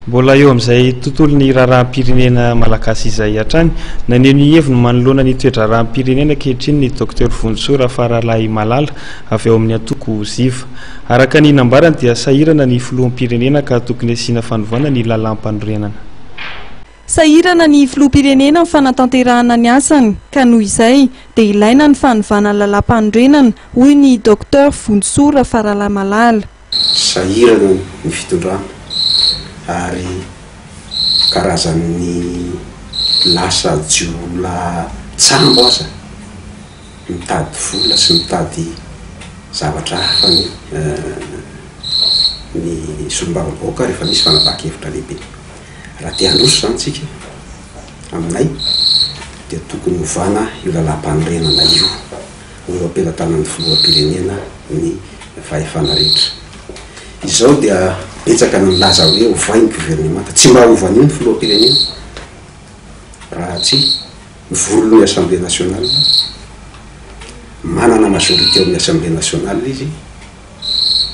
Mbola eo amin'izay tontolon'ny raharaham-pirenena malagasy izay hatrany, naneho ny heviny manoloana ny toe-draharaham-pirenena ankehitriny ny Docteur Vonintsoa Rafaralahimalala, avy ao amin'ny antoko Ziva. Araka ny nambarany dia sahirana ny filoham-pirenena ka tokony asiana fanovana ny lalàmpanorenana. Sahirana ny filoham-pirenena amin'ny fanatanterahana ny asany ka noho izay dia ilaina ny fanovana ny lalàmpanorenana, hoy ny Docteur Vonintsoa Rafaralahimalala. Sahirana ny fitondrana ary karazan'ny lasa jiolahy tsambo aza mitady vola sy mitady zavatra hafa ny ny solombavambahoaka rehefa misy fanapahan-kevitra lehibe. Raha te handroso izany tsika aminay dia tokony hovana io lalàmpanorenana io. ho am-pelatanan'ny filoham-pirenena ny fahefana rehetra. Izao dia betsaka ny milaza hoe ovay ny governemanta. Tsy mba hova an'io ny filoham-pirenena raha tsy mivory ny Assemblée nationale. Manana majorité ao amin'ny Assemblée nationale izy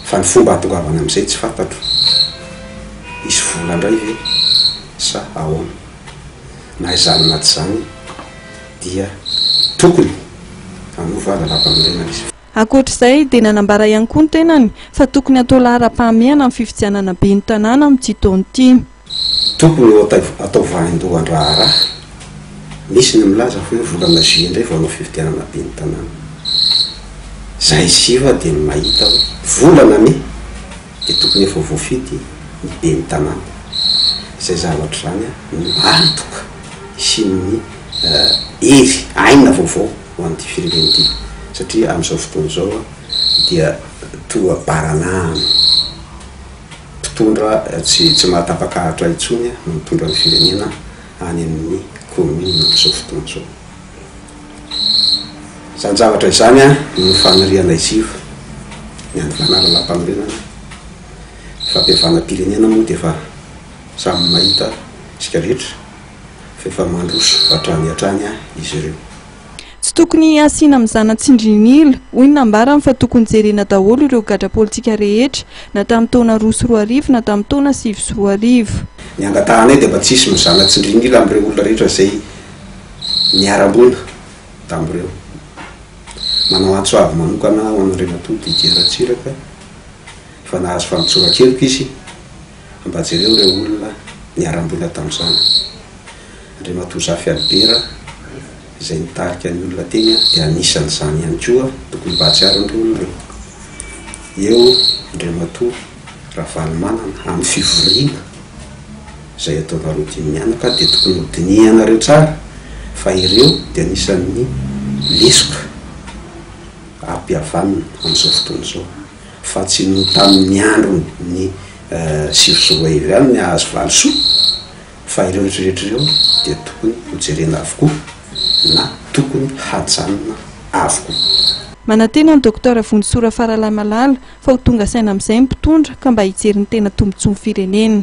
fa ny fomba hahatongavany amin'izay tsy fantatro. Hisy vola indray ve sa ahoana? Na izany na tsy izany. dia tokony hanova lalampanorenana izy. Ankoatra izay dia nanambara ihany koa ny tenany fa tokony hatao laharam-pahamehana ny fifidianana ben'ny tanàna amin'ity taona ity. Tokony ho atao vaindohan-draharaha. Misy ny milaza fa eo volana juillet indray vao hanao fifidianana ben'ny tanàna. Izahay siva dia ny mahita hoe volana mey dia tokony efa voafidy ny ben'ny tanàna. Izay zavatra izany no antoka hisian'ny hery, aina vaovao ho an'ity firenena ity satria amin'izao fotoana izao dia toa baranahana, mpitondra tsy tsy mahatapa-karatra intsony no mitondra ny firenena any amin'ny kaominina amin'izao fotoana izao. Izany zavatra izany no fanirianay ziv ny hanovana lalàmpanorenana, ny fampihavanam-pirenena moa dia efa samy mahita isika rehetra. fa efa mandroso hatrany hatrany izy ireo. Tsy tokony hasiana mizana tsindrin'ila, hoy ny nambarany fa tokony jerena daholo ireo gadra politika rehetra, na tamin'ny taona roa sy roa arivo na tamin'ny taona sivy sy roa arivo. Ny angatahanay dia mba tsy hisy mizana tsindrin'ila amin'ireo olona rehetra izay niara-mboina tamin'ireo. Manao antso avo manokana ho an'Andriamatoa Didier Ratsiraka fa nahazo famotsoran-keloka izy, Mba jereo ireo olona niharam-boina tamin'izany. Andriamatoa Zafy Albera izay nitarika ny olona teny dia anisan'izany ihany koa, tokony mba hahatsiaro an'ireo olona ireo. Eo Andriamatoa Ravalomanana amin'ny fivoriana izay ataonareo dimy mianaka dia tokony hodinihanareo tsara fa ireo dia anisan'ny lesoka ampihavanina amin'izao fotoana izao. fa tsy noho tamin' ny andron' ny sivy sy roa arivo ihany ny hahazo valisoa, fa ireo rehetrarehetra ireo dia tokony hojerena avokoa na tokony hajanona avokoa. Manantena ny Docteur Vonjisoa Rafaralahy Malala fa ho tonga saina amin'izay ny mpitondra ka mba hijery ny tena tombotsoan'ny firenena.